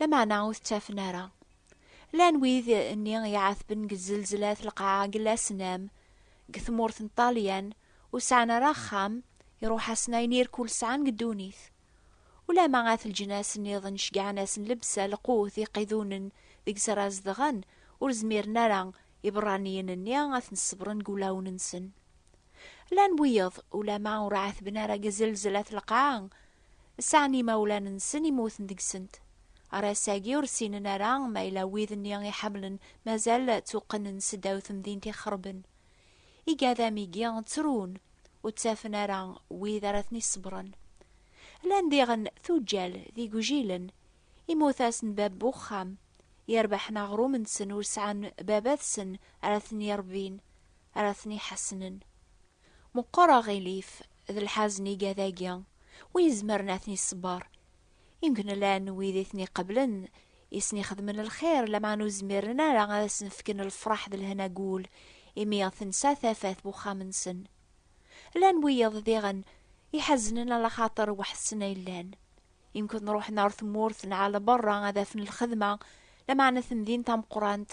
Lameɛna ur t-ttafen ara. Llan wid nni i iɛatben deg tzzelzlat lqaɛa deg Lasnam, deg tmurt n Ṭṭalyan, ur sɛan ara axxam, iruḥ-asen ayen i rkul sɛan deg ddunit. Ulamma at leǧnas nniḍen ceggɛen-asen lebsa, lqut, iqidunen deg-s ara zedɣen, ur zmiren ara iberraniyen-nni ad ten-ṣebren deg wulawen-nsen. Llan wiyeḍ, ulamma ur ɛatben ara deg tzzelzlat lqaɛa, sɛan imawlan-nsen immuten deg-sent. Ɣer ass-agi ur ssinen ara ma yella wid-nni i ḥemmlen mazal ttuqqnen seddaw temdint ixerben. Igadam-igi ttrun, ur ttafen ara wid ara ten-iṣebren. Llan diɣen tuǧǧal d igujilen, immut-asen bab n uxxam, yerbeḥen aɣrum-nsen ur sɛan baba-tsen ara ten-irebbin, ara ten-iḥasnen. Meqqer aɣilif d lḥazen iga dagi, wi izemren ad ten-iṣebber. Imkn llan wid i ten-iqeblen, i sen-ixedmen lxir, lameɛna ur zmiren ara ad asen-fken lefraḥ d lehna deg wul, imi tensa tafat n uxxam-nsen. Llan wiyeḍ diɣen iḥaznen ala axaṭer weḥd-sen ay llan. Imkn ruḥen ɣer tmurt neɣ ɣer berra ad afen lxedma, lameɛna tamdint tameqqrant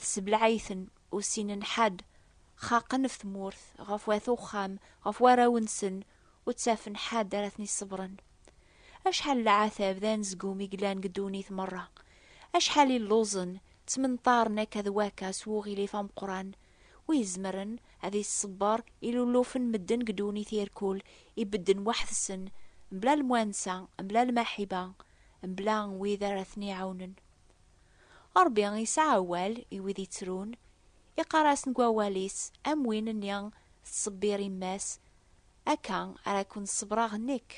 tessebleɛ-iten, ur ssinen ḥedd. xaqen ɣef tmurt, ɣef wat uxxam, ɣef warraw-nsen, ur ttafen ḥadd ara ten-iṣebren. Acḥal n leɛtab d anezgum i yellan deg ddunit merra! Acḥal i lluẓen, ttmenṭaren akka d wakka s wuɣilif ameqqran! Wi izemren ad iṣebber ilullufen n medden deg ddunit irkul ibedden weḥd-sen, mebla lemwansa, mebla lmaḥiba, mebla wid ara ten-iɛawnen? Ṛebbi yesɛa awal i wid yettrun, iqqar-as deg wawal-is, Am win-nni tettṣebbir yemma-s, akka ara ken-ṣebbreɣ nekk,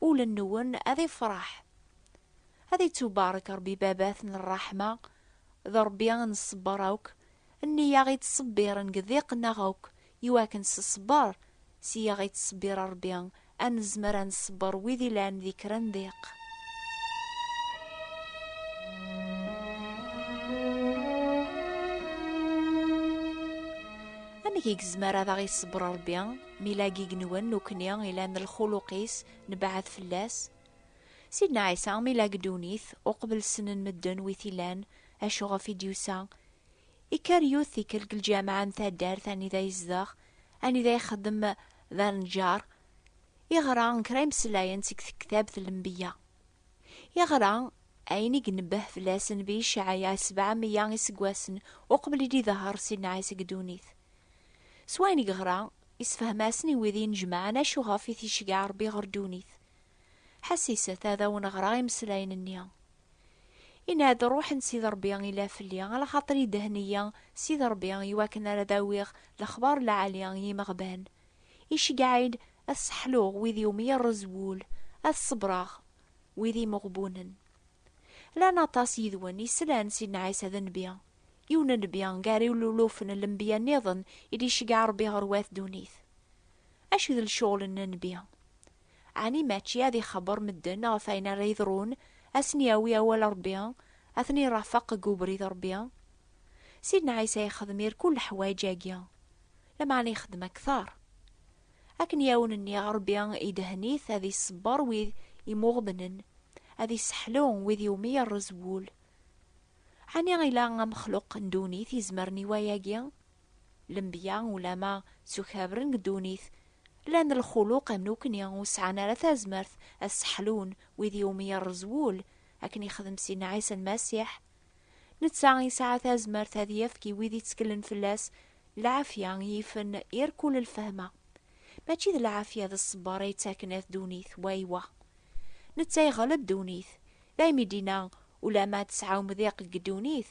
ul-nwen ad ifreḥ. Ad ittubarek Ṛebbi Baba-t n ṛṛeḥma, d Ṛebbi n ṣṣber akk, nni-a i ţṣebbiren deg ḍiq-nneɣ akk Iwakken s ṣṣber, s yaɣ i ţṣebbir Ṛebbi, a nezmer a nṣebber wid ilan di kra n ddiq. Amek i gezmer ad aɣ-iṣebber Ṛebbi, mi yella gig-nwen nekni ilan lxuluq-is, nebɛed fell-as? Sidna Ɛisa, mi yella deg ddunit, uqbel ssnen medden wi t-ilan, acu ɣef i d-yusa? Ikker yiwet tikkelt deg lǧameɛ n taddart anida yezdeɣ, anida ixeddem d aneǧǧar, iɣra kra imeslayen seg tektabt Lembiya. Iɣra ayen i inebbeh fell-as Nnbi Icɛaya sebɛa meyya iseggasen uqbel i d-idehher Sidna Ɛisa deg ddunit. S wayen i yeɣra, isefhem-asen i wid inejmaɛen acu ɣef i t-iceggeɛ Rebbi ɣer ddunit. Ḥassiset ad awen-ɣreɣ imeslayen-nni. Yenna-d, Ṛṛuḥ n Sidi Ṛebbi ila fell-i, alaxaṭer idehhen-iyi Sidi Ṛebbi i wakken ara d-awiɣ lexbar n lɛali i yimeɣban. Iceggeɛ-iyi-d ad sseḥluɣ wid iwumi yerreẓ wul, ad ṣebbreɣ wid imeɣbunen. Llan aṭas yid-wen yeslan Sidna Ɛisa d nnbi, yiwen n nnbi gar ilulufen n lenbiya nniḍen i d-iceggeɛ Ṛebbi ɣer wat ddunit. Acu i d lecɣel n nnbi? Ɛni mačči ad ixebbeṛ medden ɣef wayen ara yeḍrun, ad sen-yawi awal Ṛebbi, ad ten-irafeq deg ubrid Ṛebbi? Sidna Ɛisa ixdem irkul leḥwayeǧ-agi, lameɛna ixdem akteṛ. Akken i awen-nniɣ, Ṛebbi idehen-it ad iṣebbeṛ wid imuɣebnen, ad isseḥlu wid iwumi yerreẓ wul. Ɛni ila amexluq n ddunit izemren i wayagi? Lenbiya ulama ttukabren deg ddunit, lan lxuluq am nekni, ur sɛan ara tazmert ad sseḥlun wid i wumi yerreẓ wul, akken yexdem Sidna Ɛisa Lmasiḥ. Netta yesɛa tazmert ad yefk i wid itteklen fell-as lɛafya yifen irkul lfehma. Mačči d lɛafya d ṣṣber ay yettaken at ddunit, waywa. Netta iɣleb ddunit. Daymi d-inna, Ulama tesɛa umḍiq deg ddunit,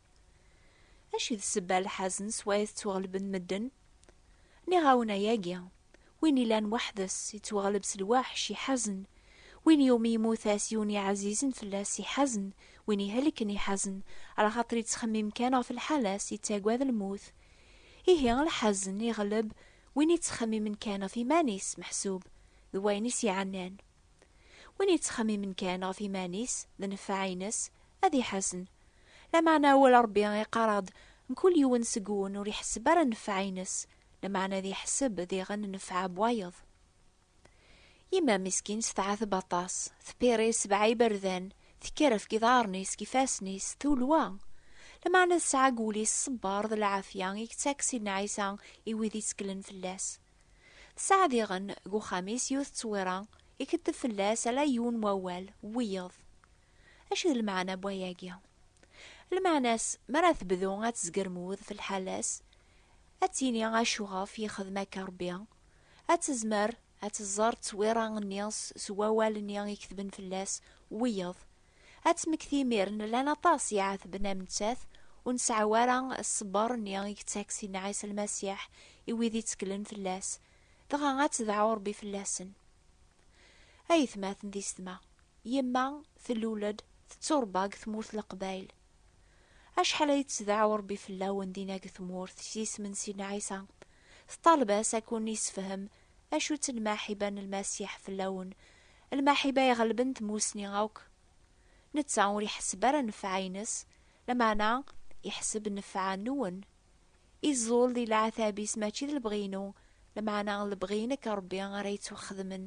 Acu d sebba lḥazen s wayet ttwaɣelben medden? Nniɣ-awen ayagi, win ilan weḥd-s yettwaɣleb s lwaḥc iḥazen, win iwumi yemmut-as yiwen iɛzizen fell-as iḥazen, win ihelken iḥazen, alaxaṭer yettxemmim kan ɣef lḥal-as, yettagad lmut. Ihi lḥazen iɣleb win yettxemmimen kan ɣef iman-is, meḥsub d wayen i s-iɛennan. Win yettxemmimen kan ɣef yiman-is d nnfeɛ-ines, ad iḥazen. Lameɛna awal n Ṛebbi iqqar-aɣ-d, Mkul yiwen seg-wen ur iḥesseb ara nnfeɛ-ines, lameɛna ad iḥesseb diɣen nnfeɛ n wayeḍ. Yemma miskint tɛetteb aṭas, tpiri sebɛa iberdan, tekker ɣef yiḍarren-is, deg yifassen-is, tulwa. Lameɛna tesɛa deg wul-is ṣṣber d lɛafya i yettak Sidna Ɛisa i wid itteklen fell-as. Tesɛa diɣen deg uxxam-is yiwet n ttewwira, ikeddeb fell-as ala yiwen n wawal, wiyeḍ. Acu d lmeɛna n wayagi? Lmeɛna-s, mi ara tebdu ad tezgermud f lḥala-s, ad tini acuɣef yexdem akka Rebbi, ad tezmer ad teẓẓer ttewwira-nni s wawal-nni iketben fell-as, wiyeḍ, Ad temmekti imiren, llan aṭas iɛatben am nettat, ur nseɛɛu ara ṣṣber-nni i yettak Sidna Ɛisa Lmasiḥ i wid itteklen fell-as, dɣa ad tedɛu Ṛebbi fell-asen. A ayetmaten d isetma, yemma tellul-d, tettuṛebba deg tmurt n Leqbayel. Acḥal ay d-tedɛu Ṛebbi fell-awen dinna deg tmurt, s yisem n Sidna Ɛisa, teṭṭaleb-as ad ken-yessefhem acu-tt lmaḥiba n Lmasiḥ fell-awen, Lmaḥiba iɣelben tmussni akk. Netta ur iḥesseb ara nnfeɛ-ines, lameɛna iḥesseb nnfeɛ nwen. Iẓul di leɛtab-is mačči d lebɣi-inu, lameɛna lebɣi-inek a Rebbi ara yettwaxedmen.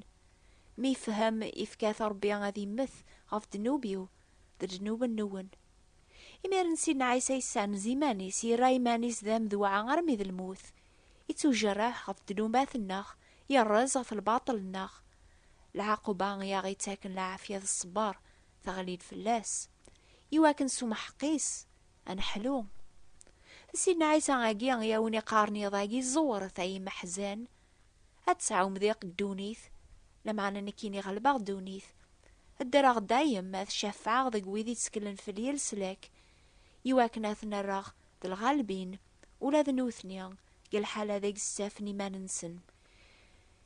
Mi ifhem ifka-t Rebbi ad immet ɣef ddnub-iw d ddnub nwen. Imiren Sidna Ɛisa yessanez iman-is, yerra iman-is d amedwaɛ armi d lmut. Ittujerreḥ ɣef ddnubat-nneɣ, yerrez ɣef lbaṭel-nneɣ, Lɛaquba i aɣ-ittaken lɛafya d ṣṣber teɣli-d fell-as, i wakken s umḥeqqis ad neḥlu. D Sidna Ɛisa-agi i awen-iqqaren iḍ-agi, Ẓewret ay imeḥzan, ad tesɛum diq ddunit, lameɛna nekkini ɣelbeɣ ddunit. Ddreɣ dayem ad cafɛeɣ deg wid itteklen fell-i leslak, i wakken ad ten-rreɣ d lɣalbin ula d nutni deg lḥala deg stefen iman-nsen.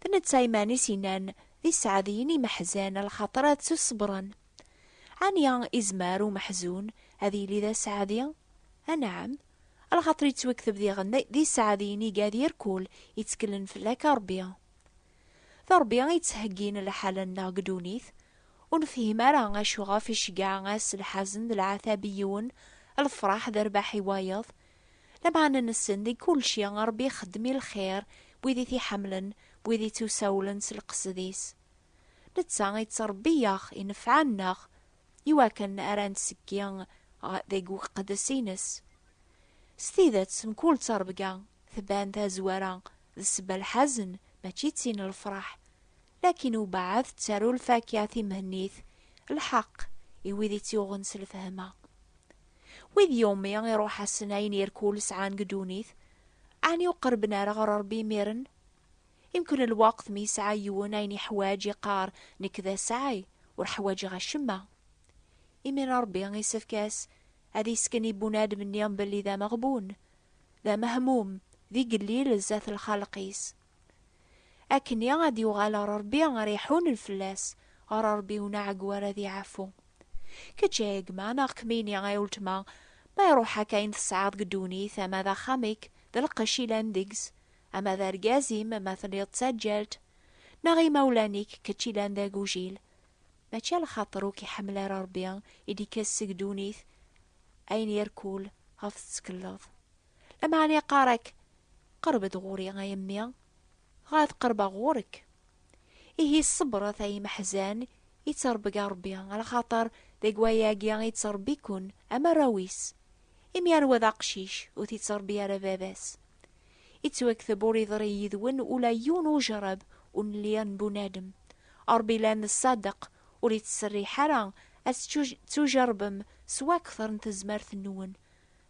D netta iman-is inan d iseɛdiyen imeḥzan lxaṭer ad tt-ṣebren. Ɛni izmer umeḥzun ad yili d aseɛdi? Anɛam, lxaṭer yettwekteb diɣen d iseɛdiyen iga d irkul itteklen fell-ak a Ṛebbi. D Ṛebbi i yettheggin lḥal-nneɣ deg ddunit, ur nefhim ara acu ɣef iceggeɛ-as lḥazen d lɛatab i yiwen, lefṛaḥ d rrbeḥ i wayeḍ, Lameɛna nessen deg kulci Ṛebbi ixeddem i lxir n wid i t-iḥemmlen, n wid ittusawlen s leqsed-is. Netta ittṛebbi-yaɣ inefɛen-nneɣ iwakken ara netteki deg uqeddes-ines. S tidet, mkul ttṛebga tban tazwara d sebba lḥazen, mačči d tin n lefṛeḥ. Lakin webɛed tettaru lfakya timhennit, lḥeqq, i wid i tt-yuɣen s lfehma. Wid iwmi iruḥ-asen ayen irkul sɛan deg ddunit, ɛni ur qerben ara ɣer Rebbi imiren? Imken lweqt mi yesɛa yiwen ayen iḥwaǧ iqqar nekk d asɛay, ur ḥwaǧeɣ acemma. Imir-a Rebbi isefk-as ad isken i bunadem-nni belli d ameɣbun, d amehmum, d igellil zdat lxalq-is. Akkenni ad d-yuɣal ɣer Rebbi ara iḥunen fell-as, ɣer Rebbi unaɛeggu ara ad iɛfu. Kečč ay gma, neɣ kemmini ay uletma, ma iruḥ-ak ayen tesɛiḍ deg ddunit, ama d axxam-ik, d lqecc ilan deg-s, ama d argaz-im, ma telliḍ d taǧǧalt, neɣ imawlan-ik, kečč ilan d agujil. Mačči a lxaṭer ur k-iḥemmel ara Rebbi, i d-ikkes seg ddunit ayen irkul ɣef tettekleḍ. Lameɛna iqqar-ak, Qerb-d ɣur-i, a yemmi, dɣa ad qerbeɣ ɣur-k. Ihi ṣebret, ay imeḥzan, i ttṛebga Ṛebbi, axaṭer deg wayagi i ttṛebbi-ken, am arraw-is. Imi anwa d aqcic, ur t-ittṛebbi ara baba-s? Ittwakteb ur iḍṛi yid-wen ula yiwen ujṛab ur nelli n bunadem. Ṛebbi la n ṣṣadeq, ur ittserriḥ ara ad tettujeṛṛbem s wakteṛ n tezmert-nwen.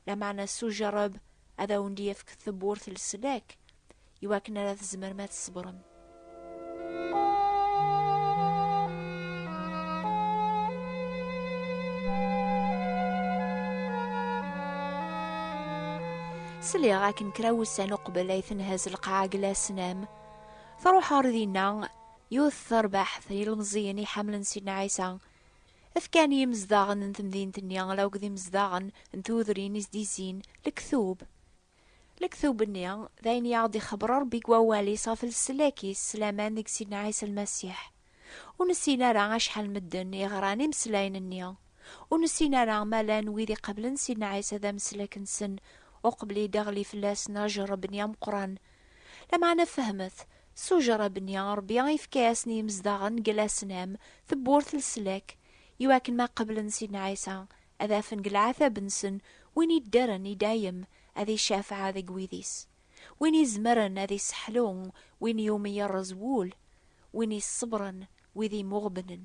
Lameɛna s ujerreb ad awen-d-yefk tewwurt leslak i wakken ara tzemrem ad tṣebrem. Sliɣ akken kra wussan uqbel ay tenhaz lqaɛa deg Lasnam, truḥ ɣer dinna yiwet terbaḥt n yilmeẓẓiyen iḥemmlen Sidna Ɛisa, Efkan yimezdaɣen n temdint-nni ala akked imezdaɣen n tudrin i s-d-yezzin lektub. Lektub-nni, d ayen i aɣ-d-ixebber Ṛebbi deg wawal-is ɣef leslak-is s laman deg Sidna Ɛisa Lmasiḥ. Ur nessin ara acḥal n medden i ɣran imeslayen-nni. Ur nessin ara ma llan wid iqablen Sidna Ɛisa d ameslak-nsen uqbel i d-iɣli fell-asen ajerreb-nni ameqqran Lameɛna fehmet, s ujerrab-nni, Ṛebbi ifka-yasen i yimezdaɣen n Glasnam tewwurt n leslak, i wakken ma qeblen Sidna Ɛisa, ad afen deg leɛtab-nsen win iddren i dayem ad icafeɛ deg wid-is, win izemren ad isseḥlu win iwumi yerreẓ wul, win iṣebbren wid imuɣebnen.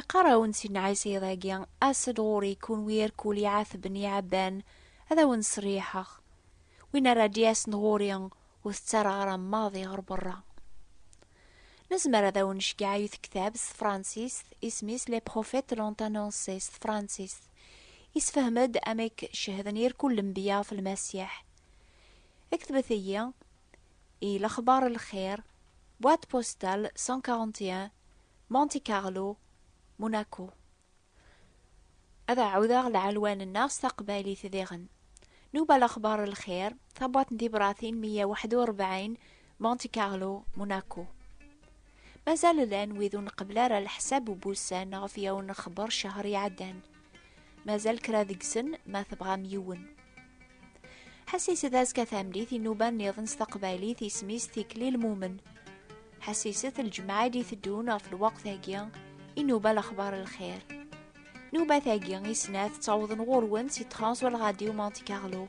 Iqqar-awen Sidna Ɛisa iḍ-agi, As-d ɣur-i, kunwi irkul iɛatben iɛabban, ad awen-sseriḥeɣ. Win ara d-yasen ɣur-i, ur t-ttarɣareɣ maḍi ɣer berra. Nezmer ad awen-necgeɛ i tektab s tefransist, isem-is Les prophètes l'ont annoncé s tefransist. Yessefhem-d amek cehden irkul lenbiya ɣef Lmasiḥ. Ktbet-iyi. i lexbar n lxir, boîte postale 141, Monte Carlo, Monaco. Ad ɛawdeɣ lɛelwan-nneɣ s taqbaylit diɣen. Nuba lexbar n lxir, tabwaṭ n tibratin 141, Monte Carlo, Monaco. Mazal llan wid ur nqebbel ara leḥsab n wussan ɣef yawen nexber ccehr iɛeddan. mazal kra deg-sen ma tebɣam yiwen. Ḥasis d azekka tamlit inuba nniḍen s taqbaylit isem-is tikli lmumen. Ḥasiset lǧemɛa d iteddun ɣef lweqt-agi inuba lexbar lxir. Nubat-agi i snat ttawḍen ɣur-wen si Trans wal Radio Monte Carlo